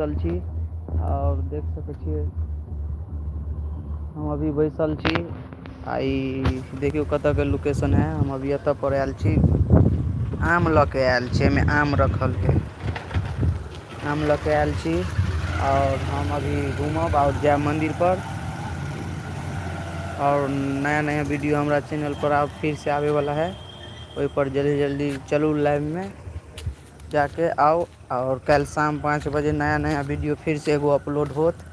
बैसल छी आओर देख सकै छियै हम अभी बैसल छी आ ई देखियौ कतय के लोकेशन है हम अभी एतय पड़ आयल छी आम लऽ के आयल छी एहिमे आम रखल के आम लऽ कऽ आयल छी आओर हम अभी घूमब आओर जायब मन्दिर पर आओर नया नया वीडियो हमरा चैनल पर आब फिर से आबे वाला है ओहिपर जल्दी जल्दी चलू लाइभमे जाकऽ आउ आओर काल्हि शाम पाँच बजे नया नया वीडियो फेरसँ एगो अपलोड होत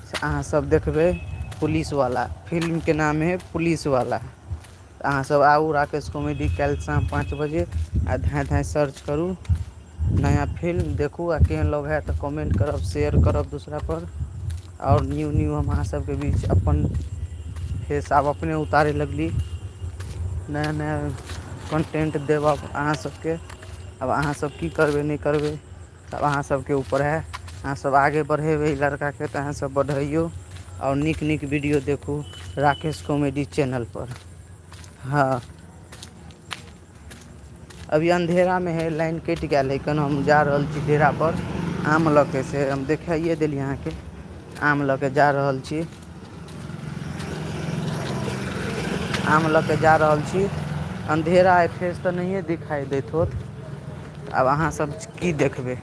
से अहाँसभ देखबै पुलिसवला फिल्मके नाम हइ पुलिसवला तऽ अहाँसभ आउ राकेश कॉमेडी काल्हि शाम पाँच बजे आ धाँय धाँय सर्च करू नया फिल्म देखू आ केहन लगै हए तऽ कमेंट करब शेयर करब दोसरापर आओर न्यू न्यू हम अहाँ सबके बीच अपन फेस आब अपने उतारे लगली नया नया कन्टेन्ट देब अहाँ सबके आब अहाँ सब की करबै नहि करबै तब अहाँ सबके ऊपर है अहाँ सब आगे बढ़ेबै ई लड़का के तऽ अहाँ सब बढ़ैयौ आओर नीक नीक वीडियो देखू राकेश कॉमेडी चैनल पर हँ अभी अन्धेरा मे है लाइन कटि गेल है केन हम जा रहल छी डेरा पर आम लऽ के से हम देखाइए देली अहाँके आम लऽ के जा रहल छी आम लऽ के जा रहल छी अन्धेरा आइ फेस तऽ नहिए दिखाइ देत होत आब अहाँसभ की देखबै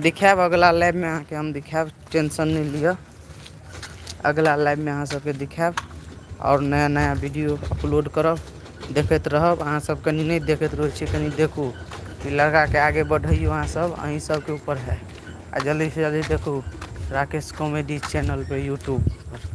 देखायब अगिला लाइफमे अहाँकेँ हम देखायब टेंशन नहि लिअ अगिला लाइफमे अहाँ सभके देखायब आओर नया नया वीडियो अपलोड करब देखैत रहब अहाँसभ कनि नहि देखैत रहै छियै कनि देखू ई लड़काकेँ आगे बढ़ैयौ अहाँसभ अहीँ सभके ऊपर हए आ जल्दीसँ जल्दी देखू राकेश कॉमेडी चैनलपर यूट्यूबपर